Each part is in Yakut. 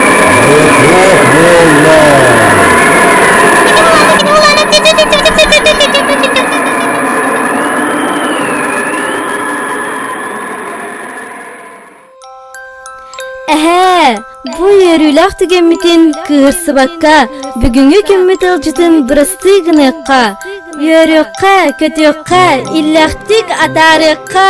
Бог Эһээ, бу үөрүүлээх түгэммитин кыырсыбакка, бүгүҥҥү күммүт ыалдьытын бырастыы гыныахха, үөрүөххэ, көтүөххэ, иллээхтик атаарыахха!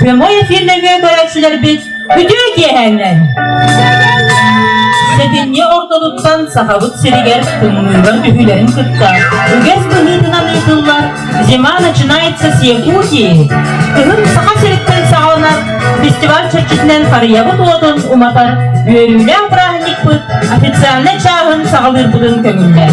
Прямой эфир нөҥүө көрөөччүлэрбит бүтүө киэһээннэр! Сэтинньи ортотуттан Сахабыт сиригэр тымныылар түһүүлэрин кытта үгэс быһыытынан ыытыллар «Зима начинается с Якутии» Кыһын Саха сириттэн саҕаланар фестиваль чэрчитинэн харыйабыт уотун уматар үөрүүлээх бырааһынньыкпыт официальнай чааһын саҕалыырбытын көҥүллэр.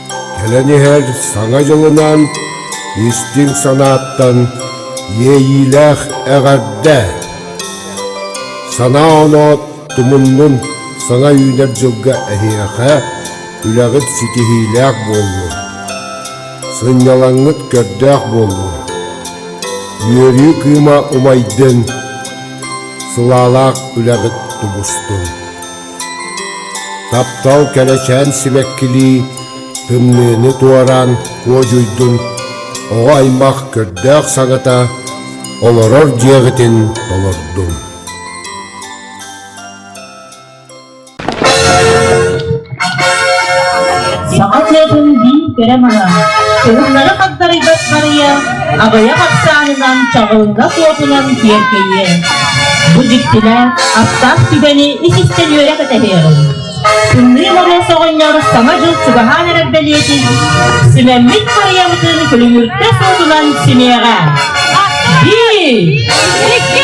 Кэлэн иһэр Саҥа дьылынан истиҥ санааттан иэйиилээх эҕэрдэ! Санаа-оноо тумуннун, саҥа үүнэр дьылга эһиэхэ үлэҕит ситиһиилээх буоллун, сынньалаҥҥыт көрдөөх буоллун, үөрүү кыыма умайдын, сылаалаах үлэҕит тубустун. Таптал кэрэчээн сибэккилии тымныыны туораан куодьуйдун, оҕо аймах көрдөөх саҥата олорор дьиэҕитин толордун. Саха сиэтин биир кэрэ маһа, уһуннары хагдарыйбат барыйа аҕыйах ахсаанынан чаҕылынна суотунан киэркэйиэ. Бу дьиктилэ астаах сүбэни исистэн үөрэ кэтэһиэҕиҥ. Тымныы Моруос оҕонньор Саҥа дьыл чугаһаан эрэр бэлиэтин Симэммит харыйамытын күлүмүртэ суотунан симиэҕэ. Биир, икки,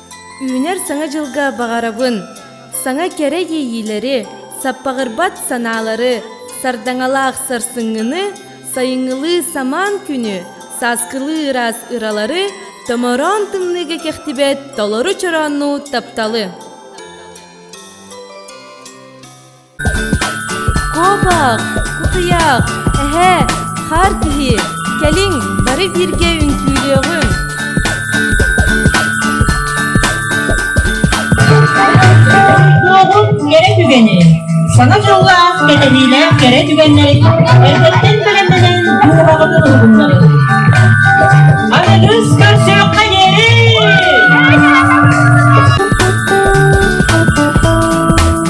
Үүнэр Саҥа дьылга баҕарабын! Саҥа кэрэ иэйиилэри, саппаҕырбат санаалары, сардаҥалаах сарсыҥҥыны, сайыҥҥылыы самаан күнү, сааскылыы ыраас ыралары, томороон тымныыга кэхтибэт толору чорооннуу тапталы! куобах кутуйах эһээ хаар киһи кэлиҥ бары бииргэ үҥкүүлүөҕүҥ кэрэ түгэни сана дьоллоох кэтэһиилээх кэрэ түгэннэрин эрдэттэн бэлэмнэнэн дууһаҕытын уһугуннарыҥ аныгыс көрсүөххэ диэри